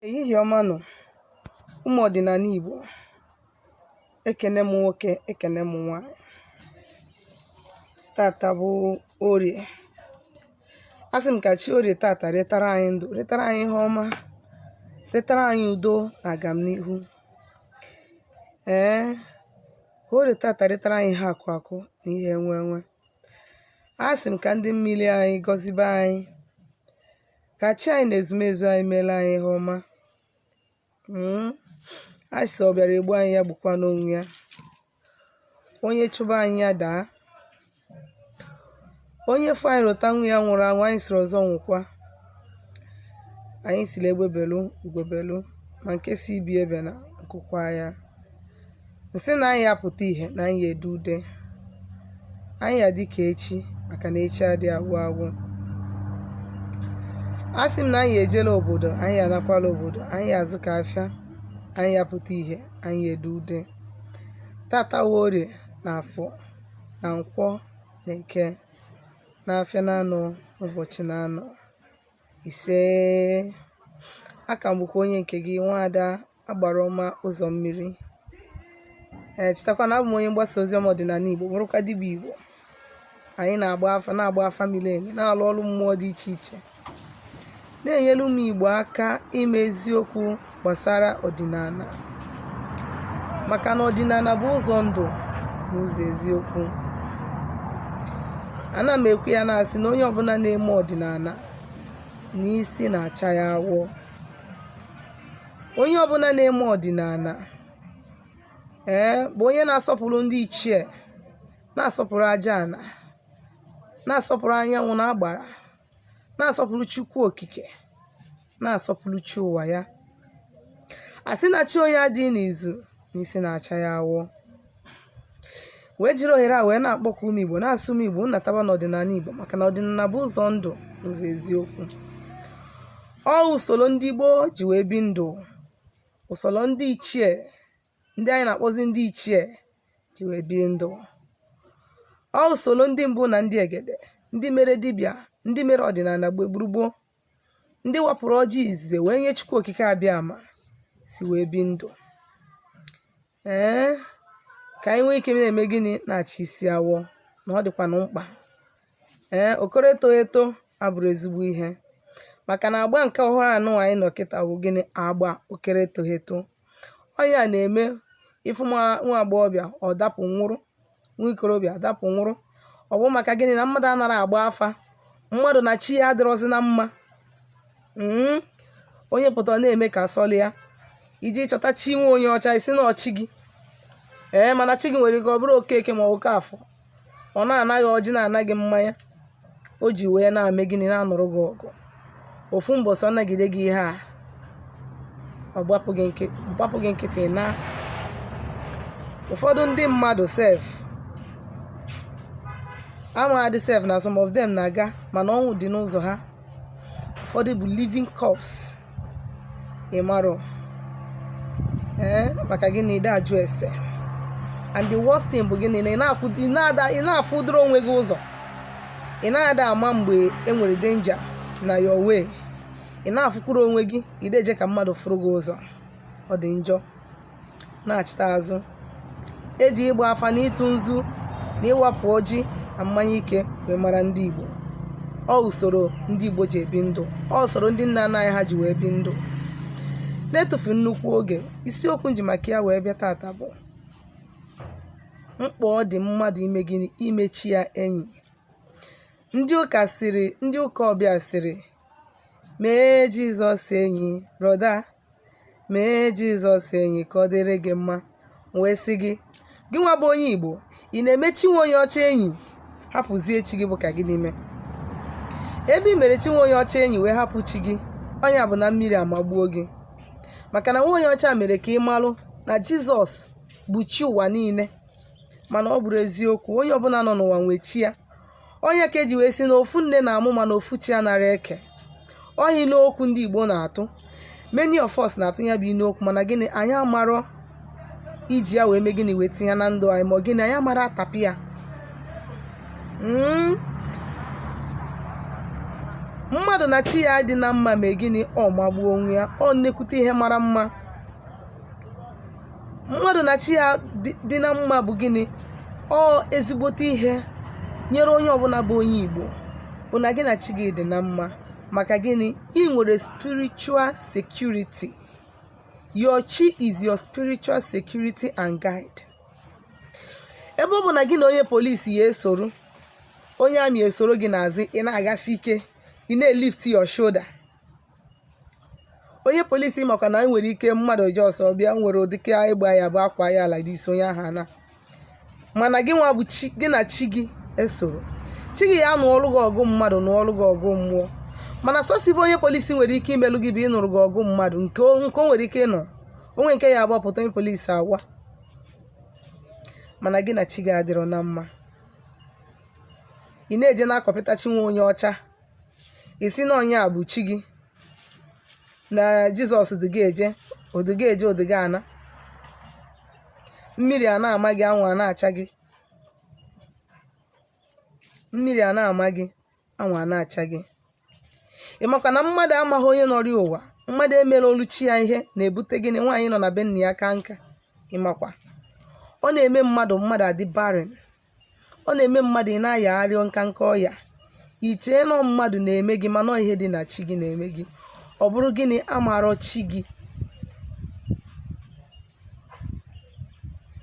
Ehihie ọma nụ, ụmụ ọdịnala Igbo. Ekene m nwoke, ekene m nwaanyị. Tata bụ Orie. Asị m ka chi Orie tata ritara anyị ndụ, ritara anyị ihe ọma, ritara anyị udo na agamnihu. Ee, ka Orie tata ritara anyị ihe akụ akụ na ihe enwe enwe. Asị m ka ndị mmiri anyị gọzibe anyị, ka chi anyị na ezumezu anyị meela anyị ihe ọma Mm. a sị ọ bịara egbu anyị ya gbukwanụ onwe ya onye chụba anyị ya daa onye fụ anyị rụta nwa ya nwụrụ anwụ anyị siri ọzọ nwụkwa anyị siri egbe belu ugo belu ma nke si ibe ya ebena nku kwaa ya m sị na anyị apụta ihe na anyị ede ude anyị ya-adị ka echi maka na echi adị agwụ agwụ a sị m na anyị ejela obodo anyị anakwala obodo anyị azụka afịa anyị apụta ihe anyị ede ude tata orie na afọ na nkwọ na eke na afịa na anọ ụbọchị na anọ isee aka m bụkwa onye nke gị nwaada agbara ọma ụzọ mmiri ee chetakwa na abụ m onye mgbasa ozi ọma ọdịnala igbo bụrụkwa dibịa igbo anyị na-agba afa miri emi na-alụ ọrụ mmụọ dị iche iche na-enyere ụmụ igbo aka ime eziokwu gbasara ọdịnala maka na ọdịnala bụ ụzọ ndụ na ụzọ eziokwu ana m ekwu ya na-asị na onye ọbụla na-eme ọdịnala na isi na-acha ya awọ onye ọbụla na-eme ọdịnala ee bụ onye na-asọpụrụ ndị ichie na-asọpụrụ aja ana na-asọpụrụ anyanwụ na agbara na-asọpụrụ chukwu okike na-asọpụrụ chi ụwa ya a sị na chi onye adịghị n'izu na isi na-acha ya awọ wee jiri ohere a wee na-akpọkọ ụmụ Igbo na-asị ụmụ Igbo nataba n'ọdịnala Igbo maka na ọdịnala bụ ụzọ ndụ ụzọ eziokwu ọ usoro ndị gboo ji wee bi ndụ usoro ndị ichie ndị anyị na-akpọzi ndị ichie ji wee bi ndụ ọ usoro ndị mbụ na ndị egede ndị mere dibịa ndị mere ọdịnala mgbe gburugburu ndị wapụrụ ọjị izize wee nye Chukwu Okike Abịama si wee bi ndụ ee ka anyị nwee ike na-eme gịnị na-acha isi awọ na ọ dịkwanụ mkpa ee okoro eto eto abụrọ ezigbo ihe maka na agba nke ọhụrụ a nụwa anyị nọ kịta bụ gịnị agba okere eto eto ọ nya na-eme ị fụ nwa agbọghọbịa ọ dapụ nwụrụ nwa ikorobịa adapụ nwụrụ ọ bụ maka gịnị na mmadụ anara agba afa mmadụ na chi ya adịrọzi na mma mm, onye pụta na-eme ka ọ sọlụ ya iji chọta chi nwa onye ọcha ị sị na ọ chi gị ee mana chi gị nwere ike ọ bụrụ okeke ma ọ bụ okeafọ ọ na-ana gị ọjị na-ana gị mmanya o ji wee na-eme gịnị na-anụrụ gị ọgụ ofu mbọsị ọ nagide gị ihe a ọ gbapụ gị nkị- gbapụ gị nkịtị na ụfọdụ ndị mmadụ sef amaghadị sef na some of them na-aga mana ọnwụ dị n'ụzọ ha ụfọdụ bụ living corpse ị marọ ee maka gịnị na ị da ajụ ese and the worst thing bụ gịnị na ị na-akwụ- ị na-ada- ị na-afụdoro onwe gị ụzọ ị na-ada ama mgbe e nwere danger na your way ị na-afụkwuru onwe gị ị da eje ka mmadụ fụrụ gị ụzọ ọ dị njọ na-achịta azụ e ji ịgba afa na ịtụ nzu na ịwapụ ọjị na mmanya ike wee mara ndị Igbo ọ usoro ndị Igbo ji ebi ndụ ọ usoro ndị nna nna anyị ha ji wee bi ndụ na-etufu nnukwu oge isiokwu nji maka ya wee bịa tata bụ mkpa ọ dị mmadụ ime gịnị ime chi ya enyi ndị ụka sịrị ndị ụka ọbịa sịrị mee Jizọs enyi brọda mee jizọs enyi ka ọ dịrị gị mma M wee sị gị gị nwa bụ onye igbo ị na-eme chi nwa onye ọcha enyi hapụzie chi gị bụ ka gịnị mee ebe i mere chi nwa onye ọcha enyi wee hapụ chi gị ọ nya bụ na mmiri amagbuo gị maka na nwa onye ọcha mere ka ị malụ na jizọs bụ chi ụwa niile mana ọ bụrọ eziokwu onye ọbụla nọ n'ụwa nwee chi ya ọ nya ka e ji wee sị na ofu nne na-amụ mana ofu chi anara eke ọ inu okwu ndị igbo na-atụ many of us na-atụ ya bụ inu okwu mana gịnị anyị amarọ iji ya wee mee gịnị wee tinye ya na ndụ anyị ma ọ gịnị anyị amara atapị ya Mm. mmadụ na chi ya dị na mma ma gịnị ọ magbuo onwe ya ọ nnekwute ihe mara mma mmadụ na chi ya dị- dị na mma bụ gịnị ọ ezigbote ihe e nyere onye ọbụla bụ onye igbo bụ na gị na chi gị dị na mma maka gịnị i nwere spiritual security your chi is your spiritual security and guide ebe ọ bụ na gị na onye polisi ya esoro onye army esoro gị n'azụ ị na-agasi ike ị na-elift your shoulder onye polisi makwa na e nwere ike mmadụ ji ọsọ bịa nwere ụdịka ịgba ya bụ akwa ya ala dị isi onye ahụ ana mana gị nwa bụ chi gị na chi gị esoro chi gị ya nụọlụ gị ọgụ mmadụ nụọlụ gị ọgụ mmụọ mana sọsọ ive onye polisi nwere ike imelụ gị bụ ịnụrụ gị ọgụ mmadụ nke o nke o nwere ike ịnụ o nwee nke ya agbapụta onye polisi awa mana gị na chi gị adịrọ na mma ị na-eje na-akọpịta chi nwa onye ọcha ị sị na onye a bụ chi gị na jizọs du gị eje o du gị eje o du gị ana mmiri a na-ama gị anwụ a na-acha gị mmiri a na-ama gị anwụ a na-acha gị ị makwa na mmadụ amaghị onye nọrọ ụwa mmadụ emerọlụ chi ya ihe na-ebute gịnị nwaanyị nọ na be nna ya kaa nka ị makwa ọ na-eme mmadụ mmadụ adị barren ọ na-eme mmadụ ị na-ayagharị nka nka ọya i chee na ọ mmadụ na-eme gị mana ihe dị na chi gị na-eme gị ọ bụrụ gịnị amarọ chi gị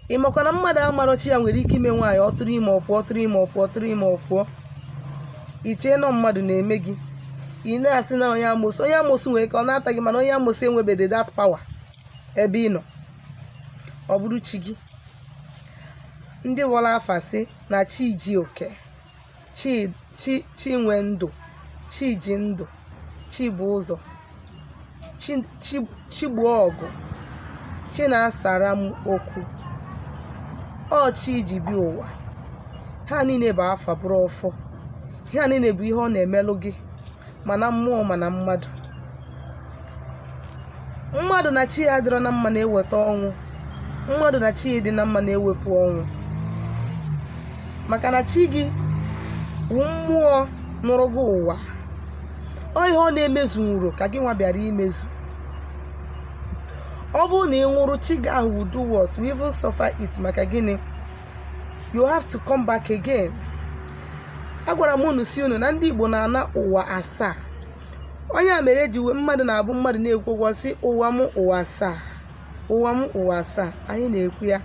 ị makwa na mmadụ amarọ chi ya nwere ike ime nwaanyị ọ tụrụ ime ọ pụọ tụrụ ime ọ pụọ tụrụ ime ọ pụọ i chee na ọ mmadụ na-eme gị ị na-asị na onye amosu onye amosu nwere ka ọ na-ata gị mana onye amosu enwebede that power ebe ị nọ ọ bụrụ chi gị ndị wọrọ afa sị na chi ji oke chi chi chi nwe ndụ chi ji ndụ chi bụ ụzọ chi chi chi gbuo ọgụ chi na-asara m okwu ọ chi ji bi ụwa ha niile bụ afa bụrụ ọfọ ihe a niile bụ ihe ọ na-emelụ gị ma na mmụọ ma na mmadụ mmadụ na chi ya adịrọ na mma na-eweta ọnwụ mmadụ na chi ya dị na mma na-ewepụ ọnwụ maka na chi gị bụ mmụọ nọrọ gị ụwa ọ ihe ọ na-emezu nwụrụ ka gị nwa bịara imezu ọ bụrụ na ị nwụrụ chi gị ahụ will do what will even suffer it maka gịnị you have to come back again agwara m unu sị unu na ndị igbo na-ana ụwa asaa ọ nya mere eji wee mmadụ na-abụ mmadụ na-ekwu okwu ọ sị ụwa m ụwa asaa ụwa m ụwa asaa anyị na-ekwu ya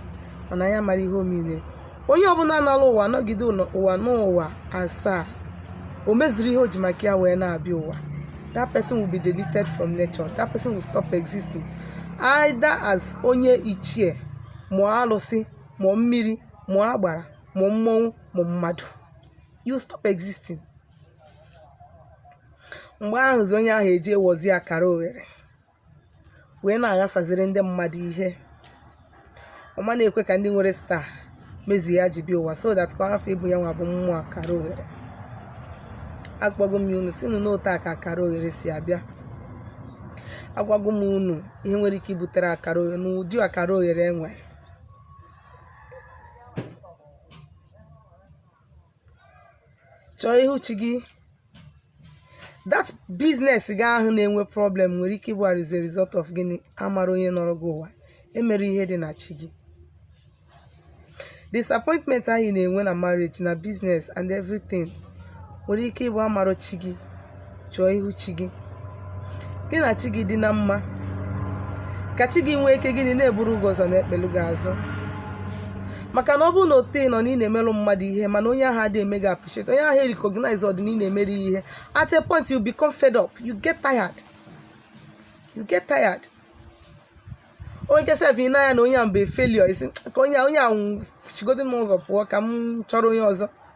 mana anyị amarọ ihe ọ mean onye ọbụla anala ụwa nọgide luo ụwa n'ụwa asaa o mezirọ ihe o ji maka ya wee na-abịa ụwa that person will be deleted from nature that person will stop existing either as onye ichie ma ọ alụsị ma ọ mmiri ma ọ agbara ma ọ mmọnwụ ma ọ mmadụ you stop existing mgbe ahụzi onye ahụ eji ewozi akara oghere wee na-aghasaziri ndị mmadụ ihe ọ ma na-ekwe ka ndị nwere star mezuo ihe ha ji bịa ụwa so that ka ọ hafụ ịbụ ya nwa bụ mmụọ akara oghere agwago m unu si unu n'otu a ka akara oghere si abịa agwago m unu ihe nwere ike ibutere akara oghere n'ụdị akara oghere e nwe chọọ ihu chi gị that business gị ahụ na-enwe problem nwere ike ịbụ as a result of gịnị amara onye nọrọ gị ụwa emere ihe dị na chi gị disappointment ahụ ị na-enwe na marriage na business and everything nwere ike ịbụ amara chi gị chọọ ihu chi gị gị na chi gị dị na mma ka chi gị nwee ike gịnị na-eburu gị ụzọ na-ekpelu gị azụ maka na ọ bụrụ na ote nọ na ị na-emeru mmadụ ihe mana onye ahụ adịghị eme gị appreciate onye ahụ recognize ọdị na ị na-emere ya ihe at a point you become fed up you get tired you get tired onye nke sef ị na-anya na onye ahụ bụ a failure ị sị ka onye a- onye ahụ sigodi m ụzọ pụọ ka m chọrọ onye ọzọ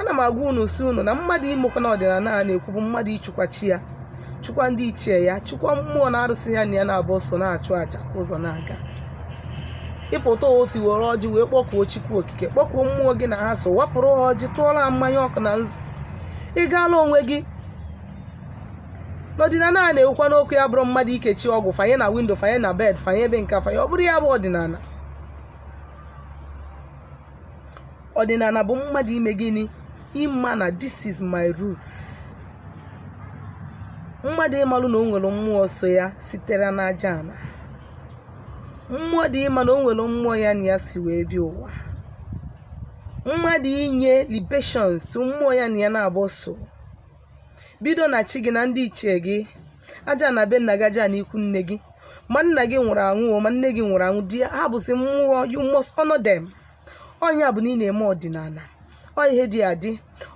ana m agwa unu si unu na mmadụ imekwa na ọdịnala a na-ekwu bụ mmadụ ịchụkwa chi ya chụkwa ndị ichie ya chụkwa mmụọ na arụsị ya na ya na-abụ so na-achụ aja ka ụzọ na-aga ịpụta ụtụtụ were ọjị wee kpọkuo chukwu okike kpọkuo mmụọ gị na ha so wapụrụ ha ọjị tụọla ha mmanya ọkụ na nzu ị gaala onwe gị n'ọdịnala a na-ekwukwanụ okwu ya abụrọ mmadụ ikechi ọgwụ fanye na windo fanye na bed fanye ebe nke fanye ọ bụrọ ya bụ ọdịnala ọdịnala bụ mmadụ ime gịnị ịma na this is my root mmadụ ịmalụ na o nwere mmụọ so ya sitere n'aja ana mmadụ ịma na o nwere mmụọ ya na ya si wee bịa ụwa mmadụ inye libations to mmụọ ya na ya na-abụ so bido na chi gị na ndị ichie gị aja ana be nna gị aja ana ikwu nne gị ma nna gị nwụrụ anwụ o, ma nne gị nwụrụ anwụ di ya ha bụzi mmụọ you must honor them ọ nya bụ na ị na-eme ọdịnala ọ ihe dị adị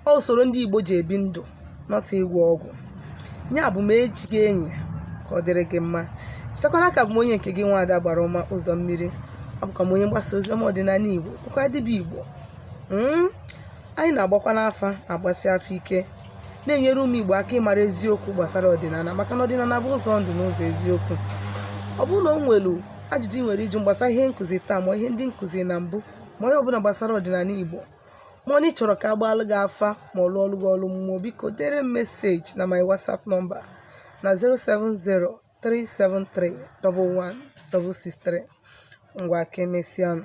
ọ usoro ndị igbo ji ebi ndụ not ịgwọ ọgwụ ya bụ mee chi gị enyi ka ọ dịrị gị mma sekwana ka bụ m onye nke gị nwaada agbara ọma ụzọ mmiri abụkwa m onye mgbasa ozi ọma ọdịnala igbo bụkwa dibịa igbo Mm? Anyị na-agbakwanụ afa na-agbasi afa ike na-enyere ụmụ Igbo aka ịmara eziokwu gbasara ọdịnala maka na ọdịnala bụ ụzọ ndụ na ụzọ eziokwu ọ bụrụ na o nwelu ajụjụ ị nwere ịjụ gbasara ihe m kụzi taa ma ọ ihe ndị m kụzi na mbụ ma ọ ihe ọbụla gbasara ọdịnala Igbo ma ọ na ị chọrọ ka a gbaalụ gị afa ma ọ lụọlụ gị ọlụ mmụọ biko dere m meseji na my WhatsApp nọmba na 07037311663 ngwa ka emesịanụ